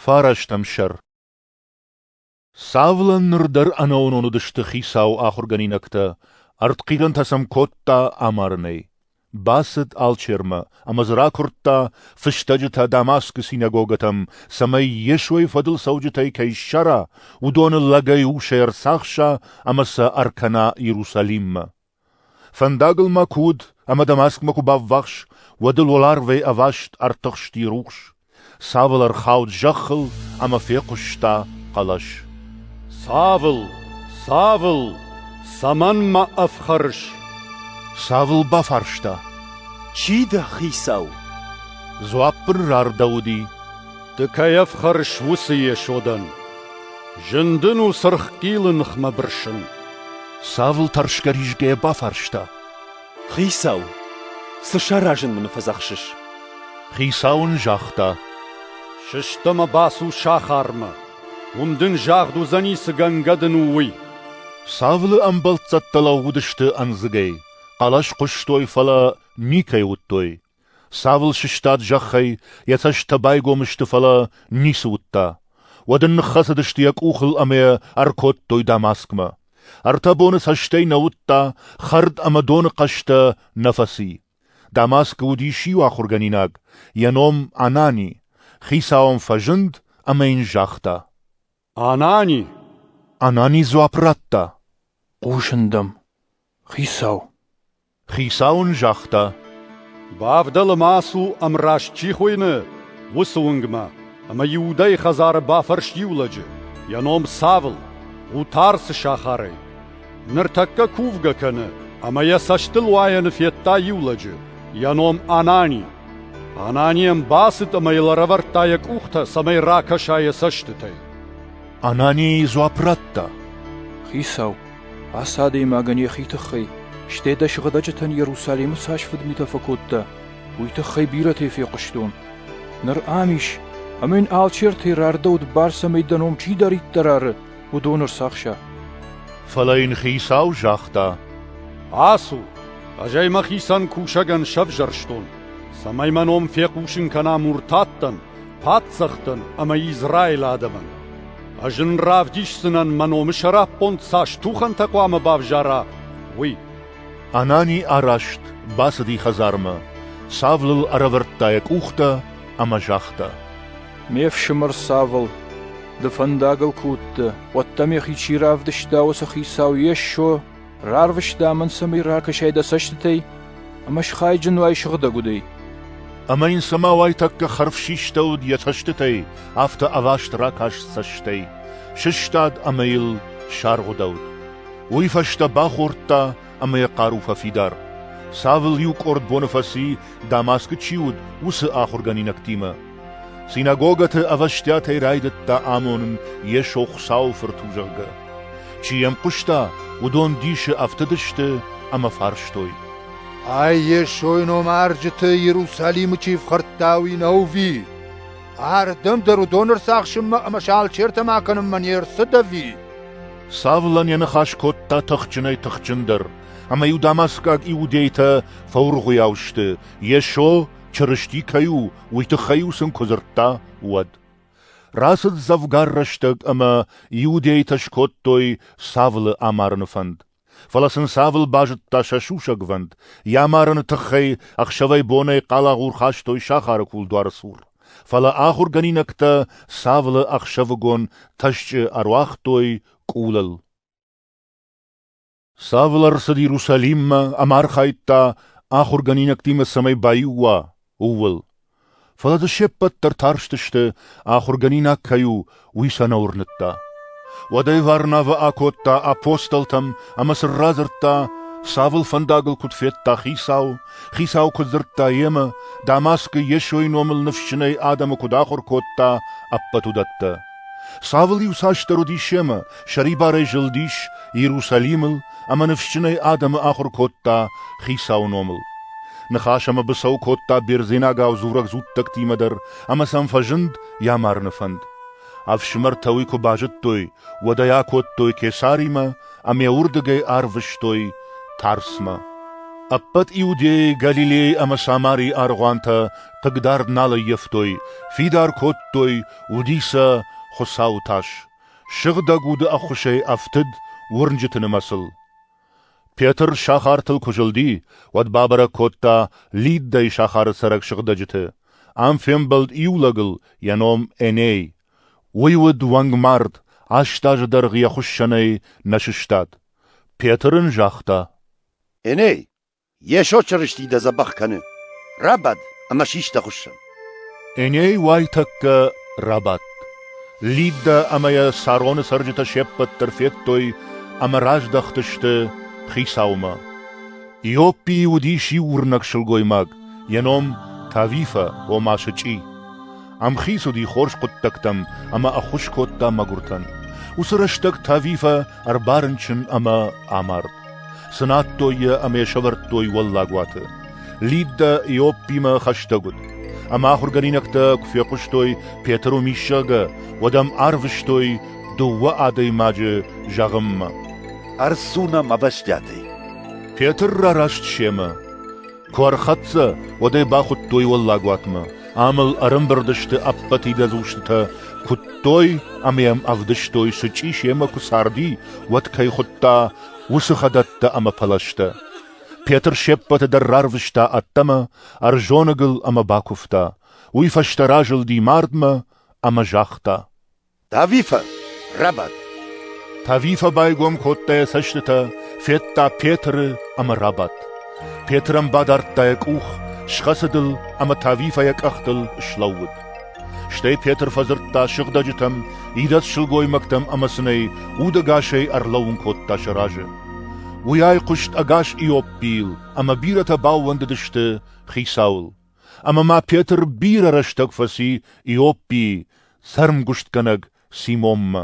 Фарастӕм сӕр Савлӕн ныр дӕр ӕнӕуынон уыдысты хицау ахуыргӕнинӕгтӕ, ӕртхъирӕнтӕ сӕм кодта амарынӕй. Бацыд алчермӕ ӕмӕ дзы ракуырдта фыстӕджытӕ Дамаскы синагогӕтӕм, цӕмӕй Йесойы фӕдыл цӕуджытӕй кӕй ссара, уыдоны лӕгӕй усӕй ӕрцахса ӕмӕ сӕ ӕркӕна Иерусалиммӕ. Фӕндагыл ма куы уыд ӕмӕ Дамаскмӕ куы баввахс, уӕд ыл уӕларвӕй ӕваст ӕртыхсти рухс, Цавыл ӕрхауд зӕххыл ӕмӕ фехъуыста хъӕлӕс. «Цавыл, цавыл, цӕмӕн мӕ ӕфхӕрыс?» Цавыл бафарста. «Чи дӕ, хицау?» Дзуапп ын рардӕуыди. Ды кӕй ӕфхӕрыс, уыцы Йесодӕн. Зын дын у сырххъилы ныхмӕ бырсын. Савл тӕрсгӕ-ризгӕйӕ бафарста. Хицау, цы саразын мын фӕдзӕхсыс? Хицау ын загъта. Сыстӕмӕ бацу сахармӕ. Уым дын загъд уыдзӕни, цы гӕнгӕ дын у, уый. Савлы ӕмбӕлццӕттӕ лӕууыдысты ӕндзыгӕй, хъӕлӕс хъуыстой, фӕлӕ никӕй уыдтой. Цавыл сыстад зӕххӕй, йӕ цӕстытӕ байгом сты, фӕлӕ ницы уыдта. Уӕд ын ныххӕцыдысты йӕ къухыл ӕмӕ йӕ ӕркодтой Дамаскмӕ. Ӕртӕ боны цӕстӕй нӕ уыдта, хӕрд ӕмӕ доны хъӕстӕ нӕ фӕци. Дамаскы уыдис иу ахуыргӕнинаг, йӕ ном Анани. Хицауӕн фӕзынд ӕмӕ йын загъта. — Анани! Анани дзуапп радта. — Хъусын дӕм, хицау. Хицау ын загъта: «Бавдӕлы ма ацу ӕмраст чи хуыйны, уыцы уынгмӕ, ӕмӕ Иудӕйы хӕдзары бафӕрс иу лӕджы, йӕ ном Савл, къутӕр цы сахарӕй. Ныртӕккӕ кувгӕ кӕны, ӕмӕ йӕ цӕстылуайӕны федта иу лӕджы, йӕ ном Анани. Анани ӕм бацыд ӕмӕ йыл ӕрӕвӕрдта йӕ къухтӕ, цӕмӕй ракӕса йӕ цӕстытӕй». Анани дзуапп радта: «Хицау, Ацы адӕймагӕн йӕхи тыххӕй, стӕй дӕ сыгъдӕджытӕн Иерусалимы цас фыдмитӕ фӕкодта, уый тыххӕй бирӕтӕй фехъуыстон. Ныр ам ис, ӕмӕ йын алчертӕй рардӕуыд бӕрц ӕмӕ дӕ ном чидӕриддӕр ары, уыдон ӕрцахса. Фӕлӕ йын Хицау загъта: «Ацу, ӕз ӕй мӕхицӕн кусӕгӕн сӕвзӕрстон, цӕмӕй мӕ ном фехъусын кӕна муртаттӕн, паддзӕхтӕн ӕмӕ Израилы адӕмӕн. Ӕз ын равдисдзынӕн, мӕ номы сӕраппонд цас тухӕнтӕ хъуамӕ бавзара, уый. Анани араст, бацыди хӕдзармӕ, Савлыл ӕрӕвӕрдта йӕ къухтӕ ӕмӕ загъта: Ме фсымӕр Савл, ды фӕндагыл куы уыдтӕ, уӕд дӕ мӕхи чи равдыста, уыцы хицау Йесо Рарвыста мын цӕмӕй ракӕсай дӕ цӕстытӕй, ӕмӕ схайджын уай сыгъдӕг удӕй. Ӕмӕ йын цӕмӕ уайтӕккӕ хӕрв систӕуыд йӕ цӕстытӕй, афтӕ ӕваст ракаст цӕстӕй, сыстад ӕмӕ йыл саргъуыдӕуыд. Уый фӕстӕ бахордта ӕмӕ йӕ хъару фӕфидар. Цавыл иу къорд боны фӕци, Дамаскы чи уыд, уыцы ахуыргӕнинӕгтимӕ. Синагогӕты ӕвӕстиатӕй райдыдта амонын Йесо Хуыцауы Фырт у, зӕгъгӕ. Чи йӕм хъуыста, уыдон дисы ӕфтыдысты ӕмӕ фарстой. Ай Йесойы номарджыты Иерусалимы чи фхӕрдта, уый нӕ уыви? Ардӕм дӕр уыдон ӕрцахсынмӕ ӕмӕ сӕ алчертӕм акӕнынмӕ не рцыд ӕви? Савлӕн йӕ ныхас кодта тыхджынӕй-тыхджындӕр, ӕмӕ-иу дамаскаг иудейтӕ фӕуыргъуыйау сты, Йесо Чырысти кӕй у, уый тыххӕй-иу сын куы дзырдта, уӕд. Рацыд дзӕвгар рӕстӕг ӕмӕ иудейтӕ скодтой Савлы амарыны фӕнд. Фӕлӕ сын Савл базыдта сӕ сусӕгвӕнд, йӕ амарыны тыххӕй ӕхсӕвӕй-бонӕй хъалагъур хастой сахары кулдуары цур. Фӕлӕ ахуыргӕнинӕгтӕ Савлы ӕхсӕвыгон тӕсчъы ӕруагътой къулыл. Савл ӕрцыд Иерусалиммӕ ӕмӕ архайдта, ахуыргӕнинӕгтимӕ цӕмӕй баиу уа, ууыл. Фӕлӕ дзы се ппӕт дӕр тарстысты, ахуыргӕнинаг кӕй у, уый сӕ нӕ уырныдта. Уӕдӕй Варнавӕ акодта апостолтӕм ӕмӕ сын радзырдта, Савл фӕндагыл куыд федта Хицау, Хицау куыд дзырдта йемӕ, Дамаскы Йесойы номыл ныфсджынӕй адӕмы куыд ахуыр кодта, ӕппӕт уыдӕттӕ. Савл иуцасдӕр уыдис семӕ, сӕрибарӕй зылдис Иерусалимыл ӕмӕ ныфсджынӕй адӕмы ахуыр кодта Хицауы номыл. Ныхас ӕмӕ быцӕу кодта бердзенагау дзурӕг дзуттӕгтимӕ дӕр ӕмӕ сӕм фӕзынд йӕ марыны фӕнд. Ӕфсымӕртӕ уый куы базыдтой, уӕд ӕй акодтой Кесаримӕ ӕмӕ уырдыгӕй арвыстой Тарсмӕ. Ӕппӕт Иудӕйӕ, Галилейы ӕмӕ Самарийы аргъуантӕ хъыгдард нал ӕййӕфтой, фидар кодтой, уыди сӕ Хуыцауы тас, сыгъдӕг уды ӕххуысӕй ӕфтыд уырнджыты нымӕцыл. Петр сахартыл куы зылди, уӕд бабӕрӕг кодта Лиддӕйы сахары цӕрӕг сыгъдӕджыты. Ам фембӕлд иу лӕгыл йӕ ном Эней. Уый уыд уӕнгмард, аст азы дӕргъы йӕ хуыссӕнӕй нӕ сыстад. Петр ын загъта: Эней, Йесо Чырысти дӕ дзӕбӕх кӕны. Рабад ӕмӕ сис дӕ хуыссӕн. Эней уайтӕккӕ рабадт. Лиддӕ ӕмӕ йӕ Сароны цӕрджытӕ се ппӕт дӕр федтой ӕмӕ раздӕхтысты Хицаумӕ. Иоппийы уыдис иу уырнӕг сылгоймаг, йӕ ном Тавифӕ, ома сычъи. Ӕмхиц уыди хорз хъуыддӕгтӕм ӕмӕ ӕххуыс кодта мӕгуыртӕн. Уыцы рӕстӕг Тавифӕ ӕрбарынчын ӕмӕ амард. Цынадтой йӕ ӕмӕ йӕ сӕвӕрдтой уӕллагуаты. Лиддӕ Иоппимӕ хӕстӕг уыд. Ӕмӕ ахуыргӕнинӕгтӕ куы фехъуыстой, Петр уым ис, зӕгъгӕ, уӕд ӕм арвыстой дыууӕ адӕймаджы зӕгъынмӕ. Ӕрцу нӕм ӕвӕстиатӕй. Петр рараст семӕ. Куы ӕрхӕццӕ, уӕд ӕй бахуыдтой уӕллагуатмӕ, ам ыл ӕрымбырд сты ӕппӕт идӕдз устытӕ, куыдтой ӕмӕ йӕм ӕвдыстой, сычъи семӕ куы царди, уӕд кӕй хуыдта, уыцы хӕдӕттӕ ӕмӕ пӕлӕзтӕ. Петр се ппӕты дӕр рарвыста ӕддӕмӕ, ӕрзоныгыл ӕмӕ бакуывта. Уый фӕстӕ разылди мардмӕ ӕмӕ загъта: Тавифӕ рабад. Тавифӕ байгом кодта йӕ цӕстытӕ, федта Петры ӕмӕ рабадт. Петрӕн бадардта йӕ къух, схӕцыд ыл ӕмӕ Тавифӕ йӕ къӕхтыл слӕууыд. Стӕй Петр фӕдзырдта сыгъдӕджытӕм, идӕдз сылгоймӕгтӕм ӕмӕ цынӕй удӕгасӕй ӕрлӕууын кодта сӕ разы. Уый айхъуыст ӕгас Иоппийыл, ӕмӕ бирӕтӕ баууӕндыдысты хицауыл. Ӕмӕ ма Петр бирӕ рӕстӕг фӕци Иоппийы, цӕрмгуыстгӕнӕг Симонмӕ.